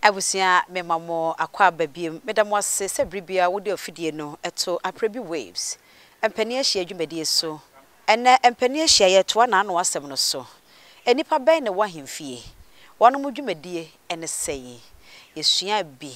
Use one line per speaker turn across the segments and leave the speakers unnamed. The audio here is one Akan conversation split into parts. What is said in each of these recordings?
Abusua mema mo akwaaba biom meda mo ase sɛ bere biara wode ofidie no to Aprabi Waves mpanin ahyiaeɛ dwumadie so. Ɛnnɛ mpanin ahyiaeɛ yɛretoa n'ano asɛm no so. Nnipa bɛn na ɛwɔ ahemfie? Wɔnom dwumadie ne sɛn? Yɛsuaa bi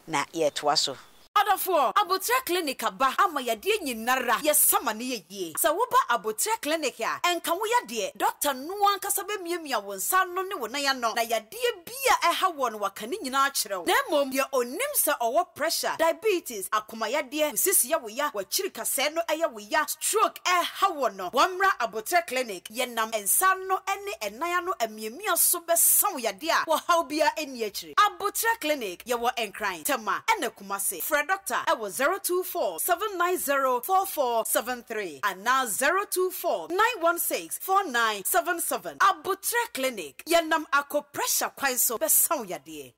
na yɛretoa so. Adɔfoɔ, aboterɛ
clinic aba ama yadeɛ nyinara yɛsa ma no yɛ yie. Sɛ woba aboterɛ clinic a, ɛnka wo yadeɛ, dɔkta no ankasa bɛmiamia wo nsa ano ne wo nan ano na yadeɛ bi a ɛha woɔ no waka ne nyinaa akyerɛ wo. Na mmom deɛ ɔnim sɛ ɔwɔ pressure, diabetes, akomayadeɛ, wo sisi yɛ wo ya, w'akyirikasɛɛ no yɛ wo ya, stroke ɛha woɔ no, wɔmmra aboterɛ clinic. Yɛnam nsa ano ne ɛnan ano amiamia so bɛsa wo yadeɛ a ɔhaw biara nni akyire. Aboterɛ Clinic, Yɛwɔ Nkran, Tema ɛna Kumasi. Frɛ dɔkta wɔ 024 790 4473 anaa 024 916 4977. Aboterɛ Clinic, Yɛnam akɔ pressure kwan so bɛsa wo yadeɛ.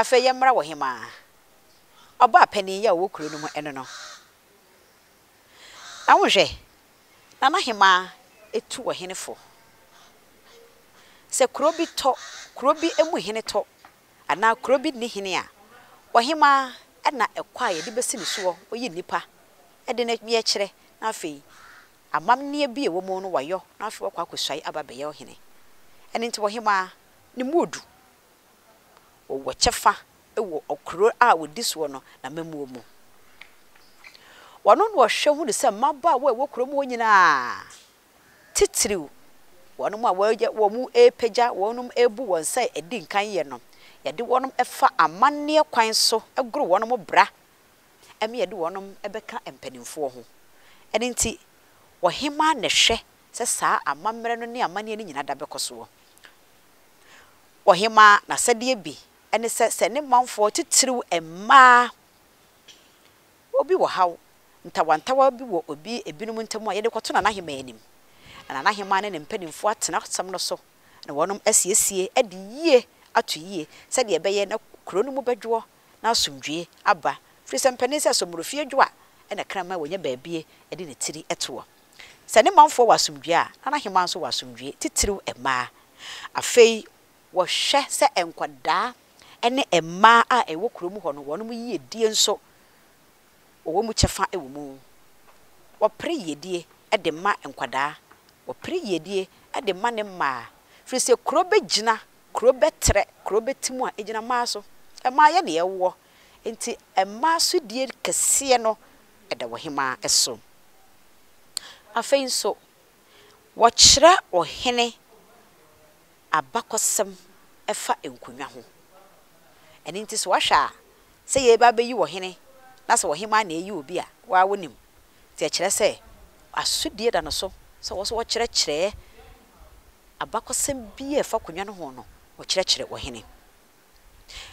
Afei yɛmmra wɔ hemaa ɔbaa panin yi a ɔwɔ kuro no mu ɛno no. Na wonhwɛ, Nana Hemaa ɛtu wɔ hene fo. Sɛ kuro bi tɔ, kuro bi ɛmu hene tɔ anaa kuro bi nni hene a, ɔhemmaa na ɛkɔ a yɛde bɛsi ne soɔ, ɔyi nnipa de no yɛ kyerɛ, na afei amammerɛ bi a ɛwɔ mu no wayɔ, na afei wakɔ akɔsuae aba abɛyɛ ɔhene. Ɛno nti ɔhemmaa no mu ɔdu, ɔwɔ kyɛfa wɔ ɔkuro a ɔdi soɔ no n'amammuo mu. Ɔno na ɔhwɛ hunu sɛ mmabaawa a ɛwɔ kuro mu hɔ nyinaa, titiriw wɔnom a wɔyɛ wɔn repagya wɔnom rebu wɔn sɛ adi nkan yɛ no, yɛde wɔnom fa amanneɛ kwan so goro wɔnom bra ma yɛde wɔnom bɛka mpanimfoɔ ho. Ɛno nti ɔhemaa na ɛhwɛ sɛ saa amammerɛ no ne amanneɛ no nyina da bɛkɔ soɔ. Ɔhemaa n'asɛdeɛ bi ne sɛ sɛ ne manfoɔ titiriw mmaa, Obi wɔ haw ntawantawa bi wɔ obi ebinom ntam a yɛde kɔto Nanahemaa anim, na Nanahemaa ne ne mpanyimfo atena asɛm no so na wɔnom asiesie adi yie ato yie sɛdeɛ ɛbɛyɛ na kuro no mu bɛdwoɔ na asomdwie aba firi sɛ mpanin sɛ somorofie dwo a ɛna kraman wɔnya baabie ɛde ne tiri toɔ. Sɛ ne manfoɔ wɔ asomdwie a Nanahemaa nso wɔ asomdwie, titiriw mmaa. Afei. wɔhwɛ sɛ nkwadaa ne mmaa a ɛwɔ kuro mu hɔ no wɔn yiedie nso wɔwɔ mu kyɛfa wɔ mu. Wɔpere yiedie de ma nkwadaa, wɔpere yiedie de ma ne mmaa, firi sɛ kuro bɛgyina, kuro bɛtrɛ, kuro bɛte mu a ɛgyina mmaa so. Mmaa yɛ na yɛwoɔ, nti mmaa so die kɛseɛ no da ɔhemaa so. Afei nso, wɔkyerɛ ɔhene. abakɔsɛm fa nkonnwa ho. Ɛno nti sɛ woahwɛ a, sɛ yɛreba abɛyi ɔhene na sɛ ɔhemmaa na ɛreyi obi a, wo ara wonim. Nti ɛkyerɛ sɛ asodie da no so sɛ wɔn nso wɔkyerɛkyerɛ abakɔsɛm bi a ɛfa akonnwa no ho no, wɔkyerɛkyerɛ ɔhene.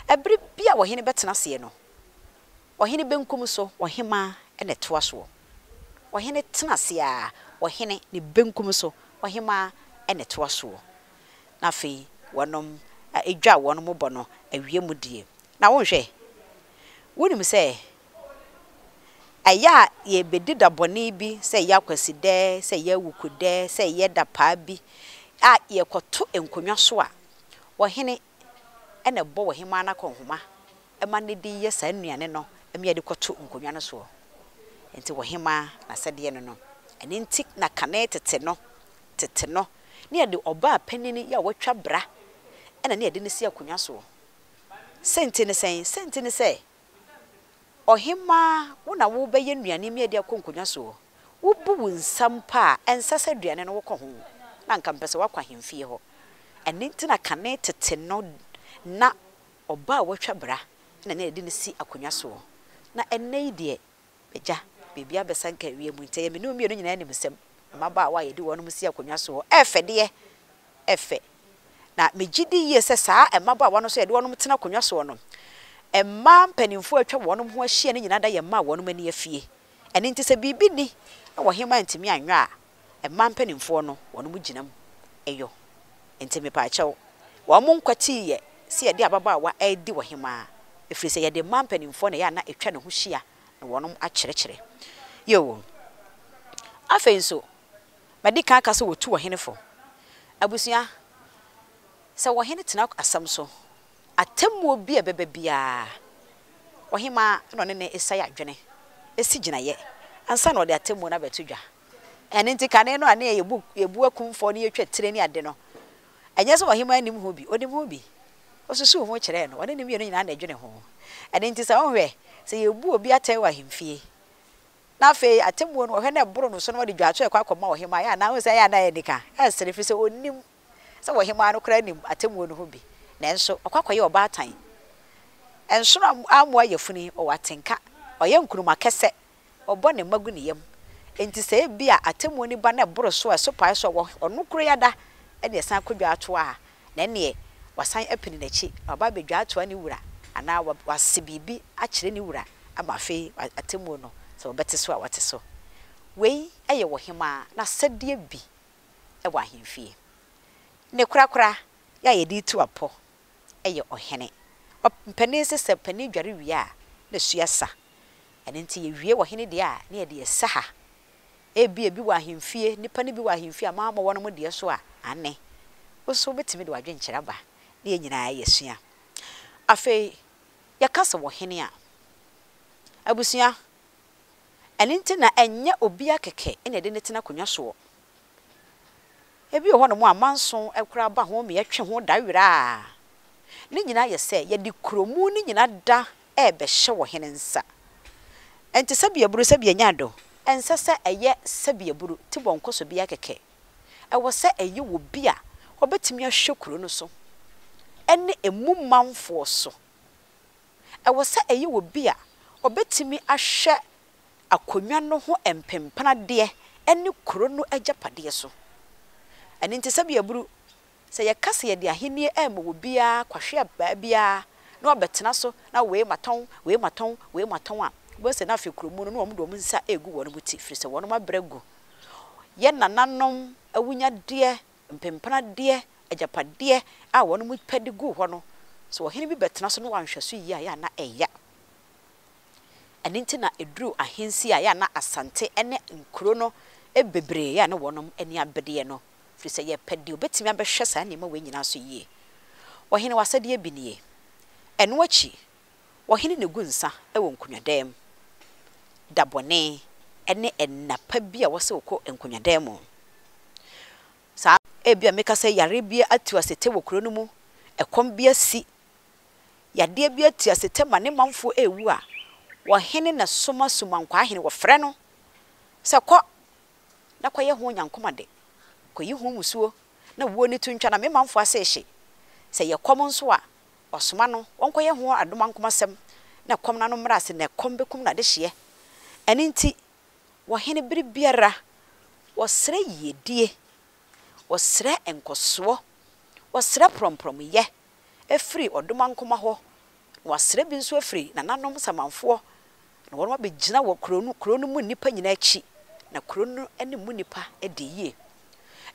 Ɛberɛ bi a ɔhene bɛtena aseɛ no, Ɔhene benkum so ɔhemmaa na ɛtoa soɔ. Ɔhene tena ase ara, ɔhene ne benkum so ɔhemmaa na ɛtoa soɔ. Na afei wɔnom dwa wɔn mo bɔ no awie mu die. Na wonhwɛ? Wonim sɛ ɛyɛ a yɛrebɛdi da bɔne bi, sɛ ɛyɛ akwasidɛ, sɛ ɛyɛ awukudɛ, sɛ ɛyɛ da paa bi a yɛkɔto nkonnwa so a, ɔhene na ɛbɔ ɔhemmaa no akɔnhoma ma no de yɛ saa nnuane no mea de kɔto nkonnwa no soɔ. Enti ɔhemmaa, n'asɛdeɛ ne no. Ɛno enti na kane tete no, tete no, na yɛde ɔbaa panin a watwa bra na na yɛde no si akonnwa soɔ. Sɛnti ne sɛn? Sɛnti ne sɛ, ɔhemmaa, wo na worebɛyɛ nnuane mea de akɔ nkonnwa soɔ. Wobu wo nsa mpo a, ɛnsɛ sɛ aduane no wokɔ ho, na anka mepɛ sɛ woakɔ ahemfie hɔ. Ɛno nti na kane tete no na ɔbaa a watwa bra na na yɛde no si akonnwa soɔ, na ɛnnɛ yi deɛ, m'agya, biribiara abɛsanka ewiem nti ɛyɛ me ne wo mmienu nyinaa animsɛm. Mmabaawa a yɛde wɔnom si akonnwa soɔ fɛ deɛ, ɛfɛ, na megye di yie sɛ saa mmabaawa no nso a yɛde wɔnom tena akonnwa soɔ no, mmaa mpanimfoɔ a atwa wɔnom ho ahyia no nyinaa da yɛ mma a wɔnom ani afie. Ɛno nti sɛ biribi nni wɔ hema antumi anyɔ a mmaa mpaninfoɔ no wɔn mo gyina mu yɔ. Nti mepaakyɛw wɔn mo nkwatii yɛ sɛ yɛde ababaawa redi wɔ hema ɛfiri sɛ yɛde mmaa mpaninfoɔ na ɛyɛ a na ɛtwa ne ho hyia na wɔn mo akyerɛkyerɛ yɛ wɔn. Afei nso madi kan aka sɛ wɔtu ɔhene fo. Abusua sɛ ɔhene tena asɛm so Atemmuo bi a ɛbɛba biara, ɔhemaa na ɔne no ɛsai adwene, ɛsi gyinaeɛ, ansa na ɔde atemmuo no abɛto dwa. Ɛno nti kane no a ne yɛbu yɛbu akumfɔɔ ne yɛtwa tire ne ade no, ɛnyɛ sɛ ɔhemaa nnim ho bi, ɔnim ho bi. Ɔsusuu ho kyerɛɛ no, ɔne no mmienu nyinaa na ɛdwene ho. Ɛno nti sɛ wohwɛ, sɛ yɛbu obi atɛn wɔ ahemfie, na afei atemmuo no wɔhwɛ na ɛboro no so na wɔde dwaato rekɔ akɔma ɔhemaa yɛ a, na wohu sɛ ɛyɛ a na ɛyɛ anika, ɛsere, ɛfiri sɛ ɔnnim. sɛ ɔhemmaa no koraa nim atemmuo no ho bi, nanso ɔkɔ akɔyɛ ɔbaatan. Ɛnsono ammoa yafunu yi, ɔwɔ atenka, ɔyɛ nkruma kɛsɛ, ɔbɔ ne mma gu ne yam. Enti sɛ ebia atemmuo no ba na ɛboro so a ɛso pae so a ɔwɔ ɔno koro yi ada na ɛsan kɔ dwaatoa a, na ɛnneɛ wasan apini n'akyi na waba abɛdwaatoa ne wura anaa wase biribi akyerɛ ne wura ama afei atemmuo no sɛ wɔbɛte so a wɔte so. Wei yɛ ɔhemmaa n'asɛdeɛ bi. wɔ ahemfie. Ne korakora yɛ a yɛde tu apɔ yɛ ɔhene. Ɔpanin se sɛ panin dware wie a, ne so sa. Ɛno nti yɛwie ɔhene deɛ a, na yɛde ɛsa ha. Ebia bi wɔ ahemfie, nnipa no bi wɔ ahemfie a moammɔ wɔnom deɛ so a? Aane. Wo nso wobɛtumi de w'adwenkyerɛ aba na yɛn nyinaa yɛasua. Afei, yɛka sɛ ɔhene a, abusua, Ɛno nti na ɛnyɛ obiara kɛkɛ na yɛde no tena akonnwa soɔ. Ebi wɔ hɔnom a manso koraa ba ho ma yɛtwe ho da werɛ a, ne nyinaa yɛ sɛ yɛde kuromuu no nyinaa da rebɛhyɛ wɔ hene nsa. Ɛnte sɛ biaburo sɛ bi anya do. Ɛnsɛ sɛ ɛyɛ sɛ biaburo ti bɔ nkɔsɔ bi ara kɛkɛ. Ɛwɔ sɛ ɛyɛ wɔ bi a ɔbɛtumi ahwɛ kuro no so ne emu manfoɔ so ɛwɔ sɛ ɛyɛ obi a obetumi ahwɛ akonnwa no ho mpempnadeɛ ne kuro no agyapadeɛ so. Ɛno nti, sɛdeɛ ɛburu, sɛ yɛka sɛ yɛde ahennie rema obiara kwahwea baa biara na wabɛtena so na wei matɔn, wei matɔn, wei matɔn a, wobɛhu sɛ na afei kuro mu no, na wɔde wɔn nsa regu wɔn ti, ɛfiri sɛ wɔn abrɛ agu. Yɛn nananom awunyadeɛ mpempena deɛ, agyapadeɛ a wɔnom pɛ de guu hɔ no, sɛ ɔhene bi bɛtena so na wanhwɛ so yie a, ɛyɛ a na ɛya. Ɛno nti na ɛduruu ahensie a, ɛyɛ a na Asante ne nkuro no bebree, ɛyɛ a na wɔnom ani abereɛ no, firi sɛ yɛpɛ deɛ ɔbɛtumi abɛhwɛ saa nneɛma wei nyinaa so yie. Ɔhene, w'asɛdeɛ bi nie. Ɛno akyi, Ɔhene no gu nsa wɔ nkonnwadan mu da bɔne ne nna pa bi a wɔsɛ wokɔ nkonnwadan mu. Saa ebia meka sɛ yare bi atu asetɛ wɔ kuro no mu, ɛkɔm bi asi, yadeɛ bi atu asetɛ ma ne manfoɔ rewu a, ɔhene na soma sumankwahene, wɔfrɛ no sɛ kɔ na kɔyɛ ho nyankom ade, kɔyi ho mmusuo na wuo no to ntwa na me manfoɔ ase rehye. Sɛ ɛyɛ kɔm nso a, Ɔsoma no ɔnkɔyɛ ho adomankomasɛm na ɛkɔm no ano mmra ase na ɛkɔm bɛkum no adehyeɛ. Ɛno nti, wɔhene bere biara wɔsrɛ yiedie, wɔsrɛ nkɔsoɔ, wɔsrɛ prɔmprɔmyɛ firi ɔdomankoma hɔ, na wɔasrɛ bi nso afiri nananom samanfoɔ, na wɔnom abɛgyina wɔ kuro no, kuro no mu nnipa nyinaa akyi, na kuro no ne mu nnipa di yie.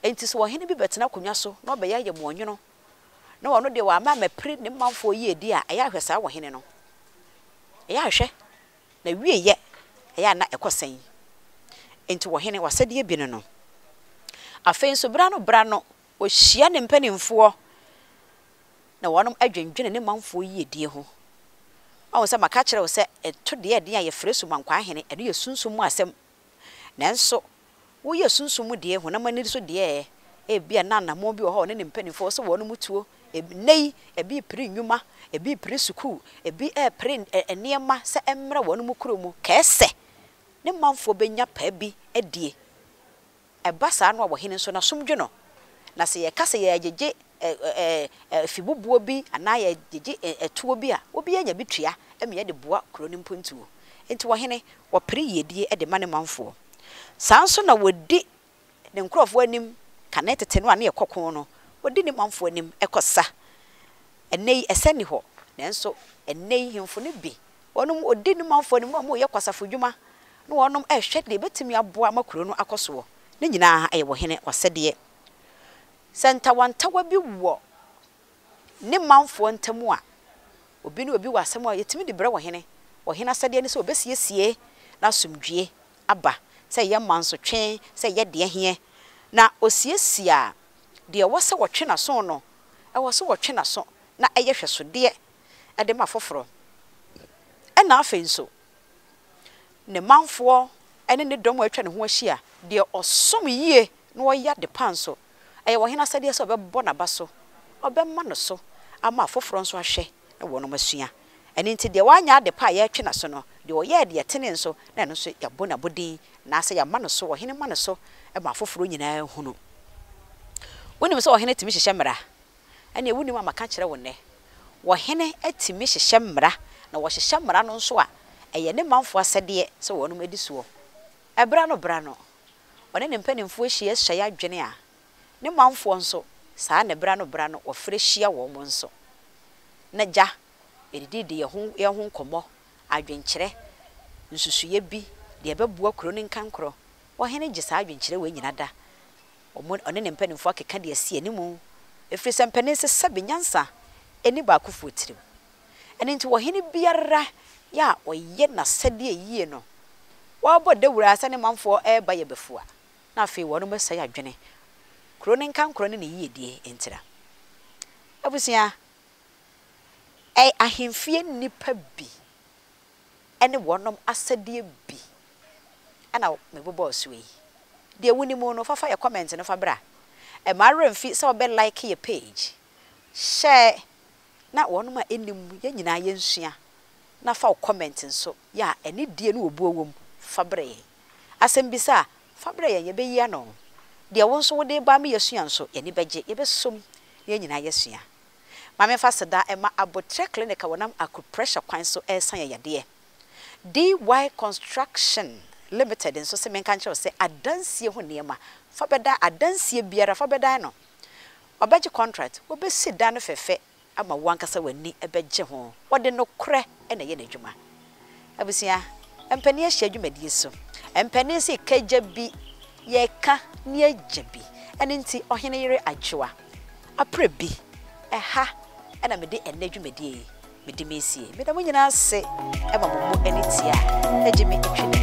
Enti sɛ ɔhene bi bɛtena akonnwa so na ɔbɛyɛ ayɛmmoɔnwono, na ɔno deɛ wama mapire ne manfoɔ yiedie a, ɛyɛ a hwɛ saa ɔhene no, ɛyɛ a hwɛ, n'awieeɛ ɛyɛ a na ɛkɔ sɛn? Enti ɔhene, w'asɛdeɛ bi ne no. Afei nso, berɛ ano berɛ ano, ɔhyia ne mpanimfoɔ, na wɔadwendwene ne manfoɔ yiedie ho. Woahu sɛ maka akyerɛ wo sɛ, ɛto deɛ ɛden a yɛfrɛ sumankwaa hene, ɛno yɛ sunsum mu asɛm. Nanso, woyɛ sunsum mu deɛ, honam ani so deɛ ɛ? Ebia na anammɔn bi wɔ hɔ a ɔne ne mpanimfoɔ wɔ sɛ wɔnom tuo. Ɛnnɛ yi, ebi repere nnwuma, ebi repere sukuu, ebi repere nneɛma sɛ ɛmmra wɔnom kuro mu, kɛɛ sɛ ne manfoɔ bɛnya paa bi adie. Ɛba saa no a, ɔhene nso n'asom dwo no. Na sɛ yɛka sɛ yɛregyegye afibobuo bi anaa yɛregyegye atuo bi a, obiara nya bi tua ma yɛde boa kuro no mpontuo. Enti ɔhene, ɔpere yiedie de ma ne manfoɔ. Saa nso na ɔdi ne nkurɔfoɔ anim, kane tete no a na yɛkɔ ko no, ɔdi ne manfoɔ anim kɔsa. Ɛnnɛ yi, ɛsɛ nni hɔ, nanso ɛnnɛ yi hemfo no bi Wɔnom ɔdi ne manfoɔ anim na wɔnom reyɛ kwasafo dwuma na wɔnom rehwɛ deɛ ɛbɛtumi aboa ama kuro no akɔ soɔ. Ne nyinaa yɛ wɔ hene w'asɛdeɛ. Sɛ ntawantawa bi wɔ ne manfoɔ ntam a, obi ne obi wɔ asɛm a yɛtumi de brɛ wɔ hene. Wɔ hene asɛdeɛ ne sɛ ɔbɛsiesie na asomdwie aba, sɛ ɛyɛ mansotwe, sɛ ɛyɛ deɛ ɛheɛ. Na ɔsiesie a, deɛ ɛwɔ sɛ wɔtwe n'aso no, ɛwɔ sɛ wɔtwe n'aso na ɛyɛ hwɛsodeɛ de ma foforɔ. Ɛna afei nso, ne manfoɔ ne ne dɔm a atwa ne ho ahyia, deɛ ɔsom yie na ɔyɛ adepa nso, ɛyɛ ɔhene asɛdeɛ sɛ ɔbɛbɔ n'aba so, ɔbɛma no so ama afoforɔ nso ahwɛ na wɔnom asua. Ɛno nti deɛ wanyɛ adepa a yɛretwe n'aso no, deɛ ɔyɛɛ deɛ ɛtene nso, na ɛno nso yɛabɔ no abodin, anaasɛ yɛama no so, ɔhene ma no so ma afoforɔ nyinaa hunu. Wonim sɛ ɔhene tumi hyehyɛ mmara. ɛnneɛ wonnim a maka akyerɛ wo nnɛ. Wɔ hene tumi hyehyɛ mmara, na wɔhyehyɛ mmara no nso a, ɛyɛ ne manfoɔ asɛdeɛ sɛ wɔnom di soɔ. Ɛberɛ ano berɛ ano, ɔne ne mpanimfoɔ hyia suae adwene a, ne manfoɔ nso, saa ara na ɛberɛ ano berɛ ano wɔfrɛ hyia wɔn nso. Na gya, yɛdidi di yɛn ho yɛn ho nkɔmmɔ, adwenkyerɛ, nsusuiɛ bi, deɛ ɛbɛboa kuro no nkankorɔ. Ɔhene gye saa adwenkyerɛ wei nyina da, Wɔn, ɔne ne mpanimfoɔ akeka deɛ asi anim, ɛfiri sɛ mpanin sesa bi nyansa nni baakofoɔ tirim. Ɛno nti ɔhene biara yɛ a ɔyɛ n'asɛdeɛ yie no, wɔbɔ dawuro ara sɛ ne manfoɔ reba yɛ bɛfua, na afei wɔnom asɛe adwene, kuro no nkankorɔ ne ne yiedie ntira. Abusua, ɛ, ahemfie nnipa bi. ne wɔnom asɛdeɛ bi na me bobɔɔ so yi. Deɛ wo nim no fa fa yɛ comment no fa bra. Mma wo werɛ mfi sɛ wo bɛ like yɛ page, share na wɔnom a nnim yɛn nyinaa yɛn sua na fa wo comment nso yɛ a anidie ne obuo wɔ mu fa brɛ yɛn. Asɛm bisa a fa brɛ yɛn yɛ bɛ yi ano. Deɛ wo nso wo de ba ama yɛ sua nso yɛ ani bɛ gye, yɛ bɛ som na yɛn nyinaa yɛ sua. Ma memfa aseda mma Aboterɛ Clinic a wɔnam akupressure kwan so resa yɛn yadeɛ. DY Construction Limited nso se menka nkyerɛ wo sɛ adansie ho nneɛma, fa bɛdan adansie biara fa bɛdan no. Wɔbɛgye contract, wɔbɛsi dan no fɛfɛ ama wo ankasa w'ani bɛgye ho. Wɔde nokorɛ na ɛyɛ n'adwuma. Abusua mpanin ahyia dwumadie so. Mpanin se ka gya bi, yɛka ne agya bi. Ɛno nti ɔhene yere Adwoa aprɛ bi. Ɛha na mede ɛnnɛ dwumadie yi mede mesie. Meda mo nyinaa ase ma mo mu ani tia a ɛgye me twene.